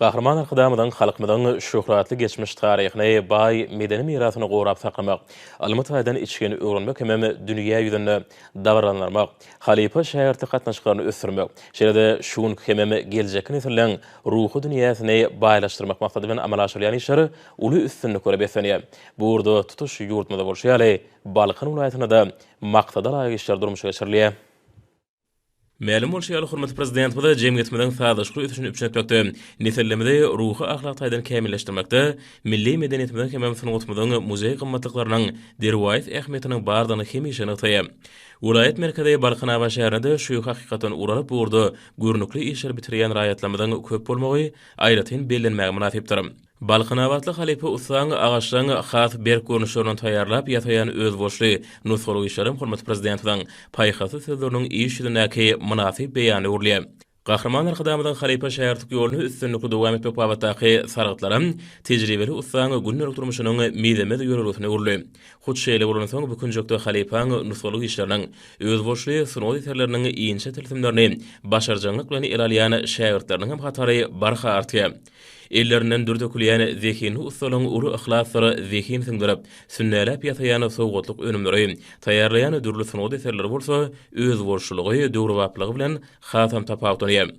Gahryman Arkadagymyzyň halkymyzyň şöhratly geçmiş taryhyny, baý medeni mirasyny gorap saklamak, ylmy taýdan içgin öwrenmek hemem dünýä ýüzünde dabaralandyrmak, halypa-şägirtlik gatnaşyklaryny ösdürmek, şeýle-de şu günki hemem geljekki nesilleriň ruhy dünýäsini baýlaşdyrmak maksady bilen amala aşyrylýan işler uly üstünliklere beslenýär. Bu ugurda tutuş ýurdumyzda bolşy ýaly, Balkan welaýatynda-da maksadalaýyk işler durmuşa geçirilýär. Mälim bolşy ýaly, hormatly Prezidentimiz jemgyýetimiziň sazlaşykly ösüşini üpjün etmekde, nesillerimizi ruhy-ahlak taýdan kämilleşdirmekde, milli medeniýetimiziň hemem sungatymyzyň muzeý gymmatlyklarynyň derwaýys ähmiýetiniň bardygyny hemişe nygtaýar. Welaýat merkezi Balkanabat şäherinde şu hakykatdan ugur alyp bu ugurda görnükli işleri bitirýän raýatlarymyzyň köp bolmagy aýratyn bellenmäge mynasypdyr. Balkanabatly halypa ussaň, agaçlaň has berk görnüşlerini taýýarlap ýasaýan özboluşly nusgalyk işlerem hormatly Prezidentimiziň paýhasly sözleriniň iş ýüzündäki mynasyp beýanyna öwrülýär. Gahryman Arkadagymyzyň halypa-şägirtlik ýoluny üstünlikli dowam etmek babatdaky sargytlaram tejribeli ussaň gündelik durmuşynyň mizemez ýörelgesine öwrüldi. Hut şeýle bolansoň, bu künjekde halypaň nusgalyk işleriniň, özboluşly sungat eserleriniň inçe tilsimlerini başarjaňlyk bilen ele alýan şägirtleriniňem hatary barha artýar. Ellerinden dür dökülýän zehinli ussalaryň uly yhlasdyr zehin siňdirip, sünnäläp ýasaýan sowgatlyk önümleri, taýýarlaýan dürli sungat eserleri bolsa özboluşlylygy, döwrebaplygy bilen hasam tapawutlanýar.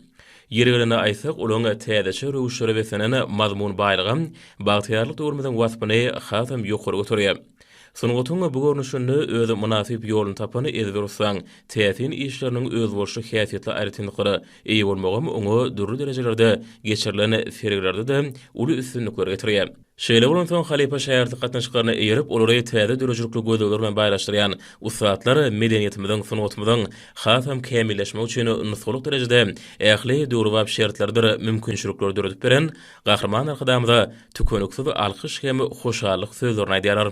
Ýeri gelende aýtsak, olaryň täzeçe röwüşlere beslenen mazmun baýlygy bagtyýarlyk döwrümiziň waspyny hasam ýokary göterýär. Sungatyň bu görnüşinde öz mynasyp ýoluny tapan ezber ussaň täsin işleriniň özboluşly häsiýetli aýratynlyklary, Eýe bolmagam oňa dürli derejelerde geçirilen sergilerde-de uly üstünlikleri getirýär. Şeýle bolansoň, halypa-şägirtlik gatnaşyklaryna eýerip, olary täze döredijilikli gözlegler bilen baýlaşdyrýan ussatlar medeniýetimiziň, sungatymyzyň hasam kämilleşmegi üçin nusgalyk derejede ähli döwrebap şertleridir mümkinçilikleri döredip beren Gahryman Arkadagymyza tükeniksiz alkyş hem hoşallyk sözlerini aýdýarlar.